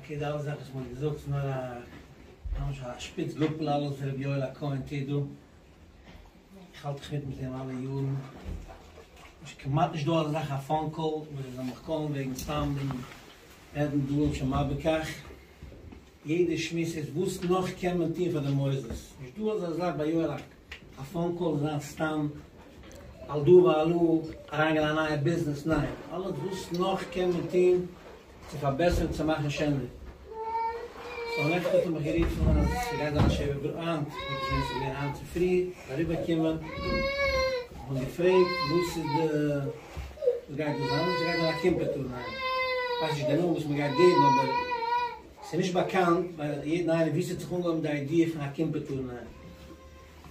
אקעי די אלע זאכן וואס מען האט געזאגט איז נאר א ממש א שפיץ גאפל אלעס וואס רבי יואל הכהן טוט דא איך האלט איך מיט מיט אים אלע יארן נישט כמעט נישט דא אזא זאך א פאון קאל וואס איך זאל מיך קאלן וועגן סתם דינג רעדן דא און שמה בכך יעדע שמועס איז וואס נאך קען מען טון פאר די מוסדות נישט דא אזא זאך ביי יואל א פאון קאל איז היינט סתם על דא ועל לא, אריינגיין א נייע ביזנעס, ניין, אלעס וואס נאך קען מען טון צו פארבעסערן און צו מאכן שענער. סאו נעכטן האט ער מיך גערופן אז ס'גייט זיין א שעיווע בראש, היינט וואלט איך געווען צו גיין היינט צופרי אריבערקומען, איך בין געפרעגט וואס איז די וואס גייט דא זיין, ס'גייט זיין א קומפעטאר, ניין, כ'ווייס נישט גענוי וואס מ'גייט געבן אבער. ס'איז נישט באקאנט ביי יעדן איינעם וואו ס'האט זיך אנגעהויבן די איידיע פון א קימפעטארנהיים.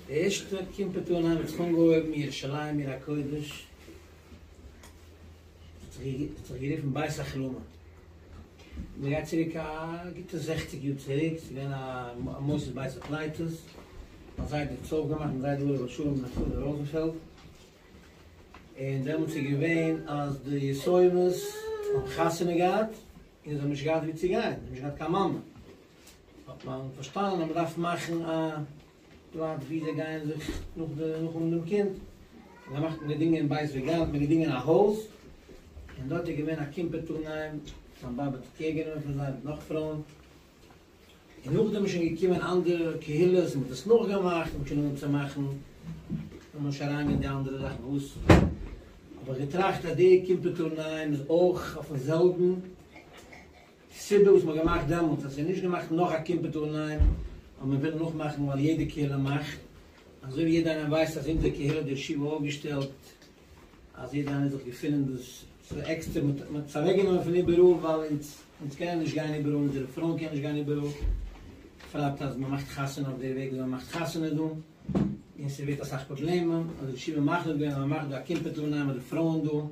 די ערשטע קימפעטארנהיים האט זיך אנגעהויבן אין ירושלים עיר הקודש, ס'האט זיך גערופן בית החלומא. מ'גייט צוריק א גוטע זעכציג יאר צוריק, ס'איז געווען א מוסד בית הפלייצעס, מ'האט זיי דארט צו אויפגעמאכט מיט זייער גדול רבי שלום בן הסודר ראזנפעלד, און דעמאלטס איז געווען אז די יסורות האבן חתונה געהאט, און זיי האבן נישט געהאט וואו צו גיין, זיי האבן נישט געהאט קיין מאמע, האט מען פארשטאנען אז מען דארף מאכן א פלאץ וואו זיי גייען זיך נאכאמען דעם קינד, זיי מאכן געדינגען אין בית וגן האט מען געדינגען א הויז, און דארט איז געווען א קימפעטאנהיים, זיין ווייב האט געגענומען פון זיי מיט נאך פרויען. און נאכדעם איז שוין געקומען אנדערע קהילות און מען האט עס נאכגעמאכט און גענומען צו מאכן און מען איז שוין אריין אין די אנדערע זאכן וואס האב איך געטראכט אז די קימפעטאר נעים איז אויך אויפן זעלבן סיבה וואס מען האט געמאכט דעמאלטס אז עס איז נישט געמאכט נאך א קימפעטאר נעים ווייל מען וויל נאכמאכן ווייל יעדע קהילה מאכט אזוי ווי יעדע איינער ווייסט אז אונזער קהילה האט די ישיבה אויפגעשטעלט אז יעדער איינער זיך געפונען דאס עקסטער, מען האט עס אוועקגענומען פון איבעראל ווייל אונז אונז קענען נישט גיין איבעראל, אונזערע פרויען קענען נישט גיין איבעראל, בפרט אז מען מאכט חתונה אויף די וועג וויאזוי מען מאכט חתונה דא, און ס'ווערט אסאך פראבלעמען, האט די רשיבה מחליט געווען אז מען מאכט דא א קומפעטל אנהייב מיט די פרויען דא, פון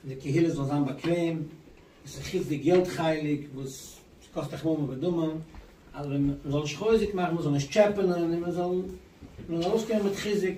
די קהילה זאל זיין באקוועם, עס איז חוץ די געלט חלק וואס ס'קאסט תחמון ודמים, אז מען זאל נישט חוזק מאכן, מען זאל נישט טשעפענען, און מען זאל מען זאל ארויסקומען מיט חיזוק,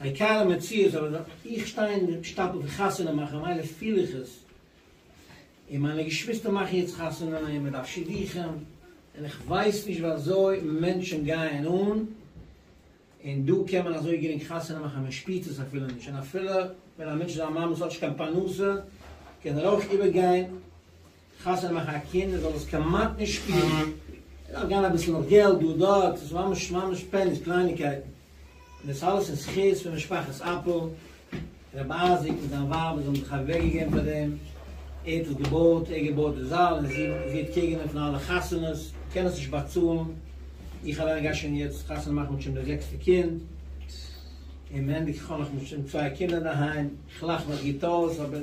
העיקר א מציאות אבער ווייל איך שטיי אין די שטאפל פון חתונה מאכן מילא פיל איך עס, און מיינע געשוויסטער מאכן יעצט חתונה און מען דארף שידוכים, און איך ווייס נישט ווי אזוי מענטשען גייען אן, און דא קען מען אזוי גרינג חתונה מאכן מען שפירט עס אפילו נישט, און אפילו ווען א מענטש איז א מאמץ האט נישט קיין פרנסה קען ער אויך איבער גיין חתונה מאכן א קינד און זאל עס כמעט נישט שפירן, ער דארף גיין אביסל נאך געלט דא דארט, עס איז ממש פעניס, קלייניגקייטן, און דאס אלעס אין זכות פון משפחת אפל, רבי אייזיק מיט זיין ווייב וואס האבן זיך אוועקגעגעבן פאר דעם, ער האט עס געבויט, ער האט געבויט די זאל און זי זי האט קעיר גענומען פון אלע חתונות, קען עס נישט באצאלן, איך אליין גיי שוין יעצט חתונה מאכן מיט שוין די זעקסטע קינד, און מענדי כחנוך מיט שוין צוויי קינדער אינדערהיים, איך לאך מיך גוט אויס אבער.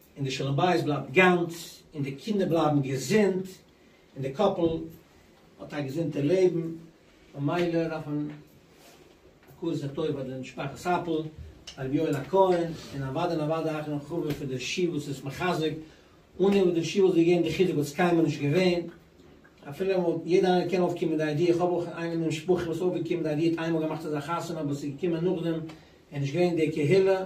און די שלום בית בלייבט גאנץ, און די קינדער בלייבן געזונט, און די קאפל האט א געזונטע לעבן, ממילא דארף מען הכרת הטוב די משפחת סאפל, הרב יואל הכהן, און אוודאי און אוודאי אח און חבר פון די שי וואס איז מחזק, אן אים וואלט די שי וואלט געגעבן די חיזוק וואלט עס קיינמאל נישט געווען, אפילו וואלט יעדער איינער קען אויפקומען מיט די איידיע, איך האב אויך איינעם אין משפחה וואס איז אויפגעקומען מיט די איידיע, האט איינמאל געמאכט אזא חתונה, אבער עס איז געקומען נאכדעם, ער איז נישט געווען אין די קהילה,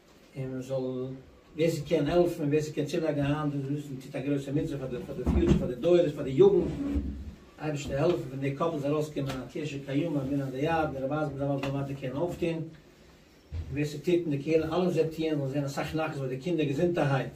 און מען זאל ווער ס'קען העלפן און ווער ס'קען צולייגן היינט דאס וויסן טוט א גרויסע מצוה פאר די פאר די פיוטשער פאר די דורות פאר די יוגנט. אייבערשטער העלף ווען די קאפל זאל ארויסקומען א קשר קיימא א מינא דאיד דער רבי אייזנבערג זאל אלץ זאל ווייטער קענען אויפטון און ווער ס'טוט אין די קהילה אלעס זאל טוען זאל זען אסאך נחת ביי די קינדער געזונטערהייט.